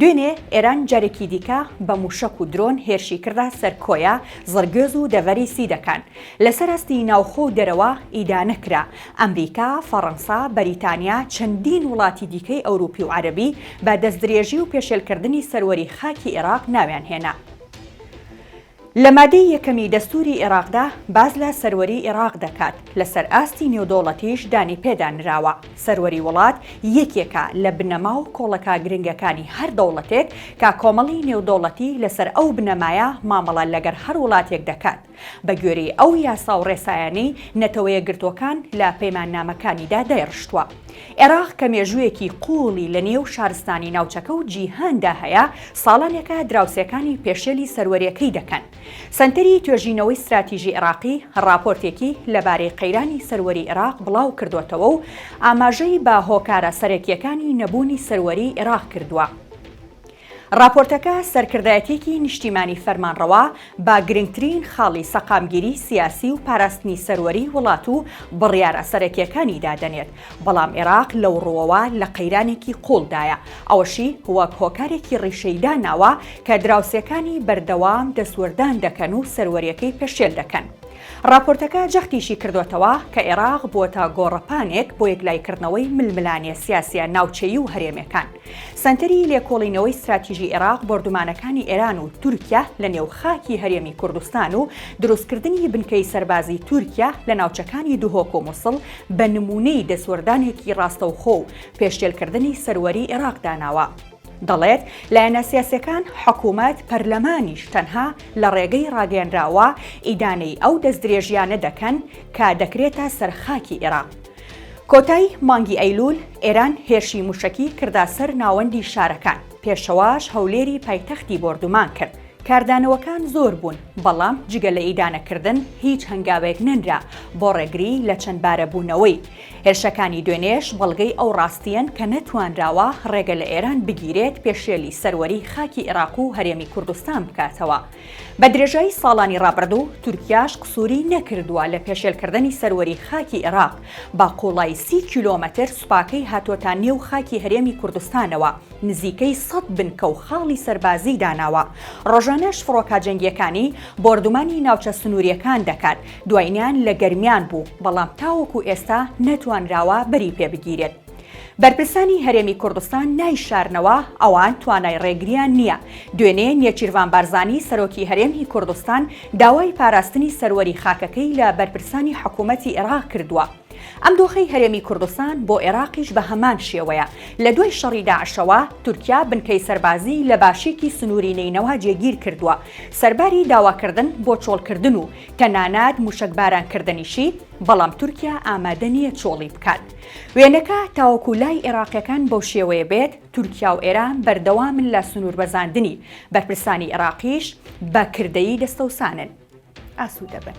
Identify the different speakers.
Speaker 1: دوێنێ ئێران جارێکی دیکە بە مووشەک و درۆن هێرشی کردە سەر کۆیە، زڕگوێز و دەڤەری سیدەکان. لەسەر ئاستی ناوخۆ و دەرەوە ئیدانە کرا. ئەمریکا، فەڕەنسا، بەریتانیا، چەندین وڵاتی دیکەی ئەوروپی و عەرەبی بە دەستدرێژی و پێشێلکردنی سەروەری خاکی ئێراق ناویان هێنا. لە مادەی یەکەمی دەستوری ئێڕاقدا باس لە سەروەری ئێڕاق دەکات، لەسەر ئاستی نێودەوڵەتیش دانی پێدا نراوە. سەروەری وڵات یەکێکە لە بنەما و کۆڵەکە گرنگەکانی هەر دەوڵەتێک کە کۆمەڵی نێودەوڵەتی لەسەر ئەو بنەمایە مامەڵە لەگەر هەر وڵاتێک دەکات بە گوێرەی ئەو یاسا و ڕێسایانەی نەتەوەیەکگرتووەکان لە پەیماننامەکانیدا دایڕشتووە. ئێراق کە مێژوویەکی قووڵی لە نێو شارستانی ناوچەکە و جیهاندا هەیە، ساڵانێکە دراوسێکانی پێشێلی سەروەرییەکەی دەکەن. سەنتەری توێژینەوەی ستراتیژی ئێراقی راپۆرتێکی لەبارەی قەیرانی سەروەری ئێراق بڵاو کردۆتەوە و ئاماژەی بە هۆکارە سەرەکییەکانی نەبوونی سەروەریی ئێراق کردووە. ڕاپۆرتەکە سەرکردایەتیەکی نیشتیمانی فەرمانڕەوا بە گرنگترین خاڵی سەقامگیری سیاسی و پاراستنی سەروەری وڵات و بڕیارە سەرەکیەکانی دادەنێت، بەڵام ئێراق لەو ڕووەوە لە قەیرانێکی قوڵدایە، ئەوەشی وەک هۆکارێکی ڕیشەی داناوە کە دراوسێکانی بەردەوام دەستوەردان دەکەن و سەروەریەکەی پێشێل دەکەن. ڕاپۆرتەکە جەختیشی کردۆتەوە کە ئێراق بووەتە گۆڕەپانێک بۆ یەکلایکردنەوەی ململانێ سیاسیە ناوچەیی و هەرێمێکان، سەنتەری لێکۆڵینەوەی ستراتیژی عێراق بۆردومانەکانی ئێران و تورکیا لە نێو خاکی هەرێمی کوردستان و دروستکردنی بنکەی سەربازی تورکیا لە ناوچەکانی دهۆک و موسڵ بە نموونەی دەستوەردانێکی ڕاستەوخۆ و پێشێلکردنی سەروەری عێراق داناوە. دەڵێت، لایەنە سیاسیەکان، حکومەت، پەرلەمانیش تەنها لە ڕێگەی ڕاگەیەنراوە ئیدانەی ئەو دەستدرێژیانە دەکەن کە دەکرێتە سەر خاکی عێراق. کۆتای مانگی ئەیلوول ئێران هێرشی مووشەکی کردە سەر ناوەندی شارەکان، پێشەواش هەولێری پایتەختی بۆردومان کرد، کاردانەوەکان زۆر بوون، بەڵام جگە لە ئیدانەکردن هیچ هەنگاوێک نەنرا بۆ ڕێگری لە چەندبارەبوونەوەی. هێرشەکانی دوێنێش بەڵگەی ئەو ڕاستییەن کە نەتوانراوە ڕێگە لە ئێران بگیرێت پێشێلی سەروەریی خاکی عێراق و هەرێمی کوردستان بکاتەوە، بە درێژایی ساڵانی ڕابردوو تورکیاش قسووری نەکردووە لە پێشێلکردنی سەروەری خاکی ئێراق، بە قووڵایی سی کیلۆمەتر سوپاکەی هاتووەتە نێو خاکی هەرێمی کوردستانەوە، نزیکەی سەد بنکە و خاڵی سەربازیی داناوە، ڕۆژانەش فڕۆکە جەنگییەکانی بۆردومانی ناوچە سنوورییەکان دەکات، دوایینیان لە گەرمیان بوو، بەڵام تاوەکو ئێستا نەتوانراوە بەری پێ بگیرێت. بەرپرسانی هەرێمی کوردستان نایشارنەوە ئەوان توانای ڕێگریان نییە. دوێنێ نێچیرڤان بارزانی سەرۆکی هەرێمی کوردستان داوای پاراستنی سەروەری خاکەکەی لە بەرپرسانی حکوومەتی ئێراق کردووە. ئەم دۆخەی هەرێمی کوردستان بۆ ئێراقیش بە هەمان شێوەیە. لە دوای شەڕی داعشەوە تورکیا بنکەی سەربازیی لە باشیکی سنووری نەینەوا جێگیر کردووە. سەرباری داواکردن بۆ چۆڵکردن و تەنانەت مووشەکبارانکردنیشی، بەڵام تورکیا ئامادە نییە چۆڵی بکات. وێنەکە تاوەکو لای ئێراقییەکان بەو شێوەیە بێت، تورکیا و ئێران بەردەوامن لە سنووربەزاندنی، بەرپرسانی ئێراقیش بە کردەیی دەستەوسانن. ئاسوودەبن.